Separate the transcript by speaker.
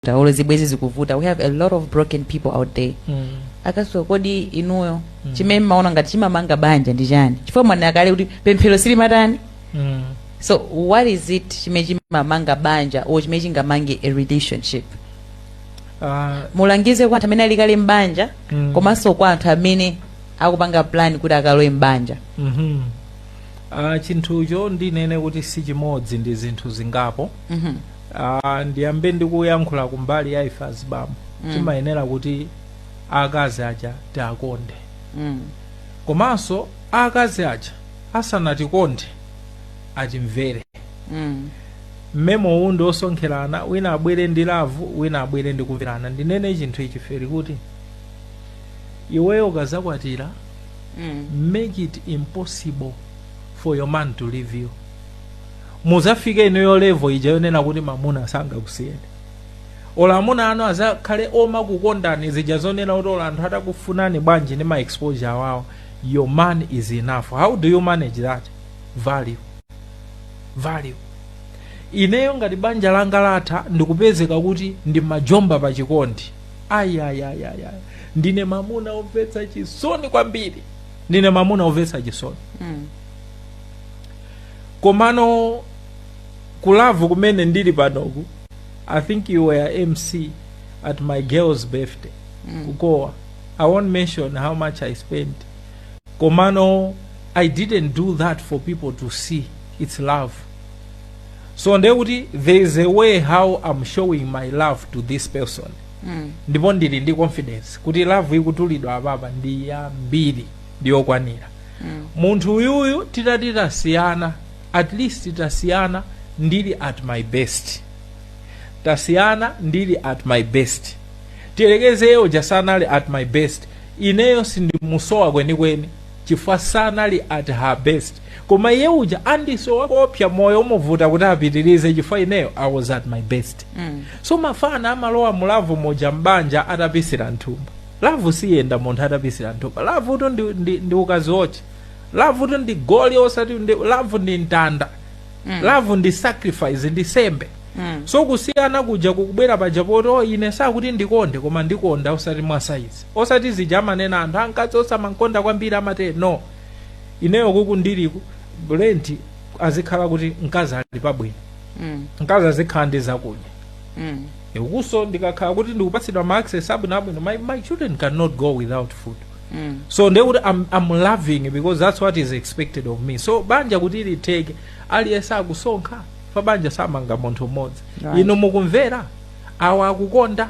Speaker 1: olo zibwezi zikuvuta we have a lot of broken people out there Mm. akaso kodi inuyo Mm. chimene mmaona ngati chimamanga banja ndi chani chifukwa mwanena kale kuti pemphero silimatani Mm. so what is it chimene chimamanga banja or chimene chingamange a relationship Ah, mulangize kwa anthu amene ali kale mbanja Mm. komanso kwa anthu amene akupanga plan kuti akalowe mbanja mhm. Ah,
Speaker 2: chinthucho ndinene kuti si chimodzi ndi zinthu zingapo Mhm. Ah, ndiyambe ndikuyankhula kumbali ya ife azibambo Mm. timayenera kuti akazi aja tiakonde Mm. komanso akazi aja asanatikonde atimvere Mm. mmemo uwu ndi osonkherana wina abwere ndi lavu wina abwere ndi kumverana ndinene chinthu ichi feri kuti iweyo ukazakwatira Mm. make it impossible for your man to leave you muzafike inuyo level ija yonena kuti mamuna sangakusiyeni olo amuna anu azakhale omakukondani zija zonena kuti olo anthu atakufunani bwanji ndi ma exposure awawo your man is enough how do you manage that value value ineyo ngati banja langa latha ndikupezeka kuti ndimajomba pa chikondi ayayayaya ndine mamuna omvetsa chisoni kwambiri ndine mamuna omvetsa chisoni Mm. komano kulavu kumene ndili panoku i think you were mc at my girl's birthday mm. kukowa i won't mention how much i spent komano i didn't do that for people to see it's love so ndiye kuti there is a way how i'm showing my love to this person Mm. ndipo ndili ndi confidence kuti love ikutulidwa apapa ndi yambiri ndi yokwanira Mm. munthu uyuyu titati tasiyana at least tasiyana ndili at my best tasiyana ndili at my best tiyerekeze iye uja sanali at my best ineyo sindimusowa kwenikweni chifukwa sanali at her best koma iye uja andisowa koopsa moyo umuvuta kuti apitirize chifukwa ineyo i was at my best Mm. so mafana amalowa mulavu muja mbanja atapisira mthumba Love siyenda munthu atapisira mthumba. Love tu ndi, ndi, ndi ukaziotche. Love tu ndi goli osati ndi love ndi mtanda. Love ndi sacrifice ndi sembe. So kusiyana kuja kukubwera paja poti oh, ine sakuti ndikonde koma ndikonda osati mwasaizi. Osati zija amanena anthu ah mkazi osamankonda kwambiri amate no. Ineyo kuku ndiliku rent azikhala kuti mkazi ali pabwino. Mm. Mkazi azikhala ndi zakudya. Mm. ukunso ndikakhala kuti ndikupatsidwa ma access abwino abwino my, my children cannot go without food Mm. so ndiye kuti I'm, I'm loving because that's what is expected of me so banja kuti litheke aliyense akusonkha pa banja samanga munthu mmodzi Right. inu mukumvera awa akukonda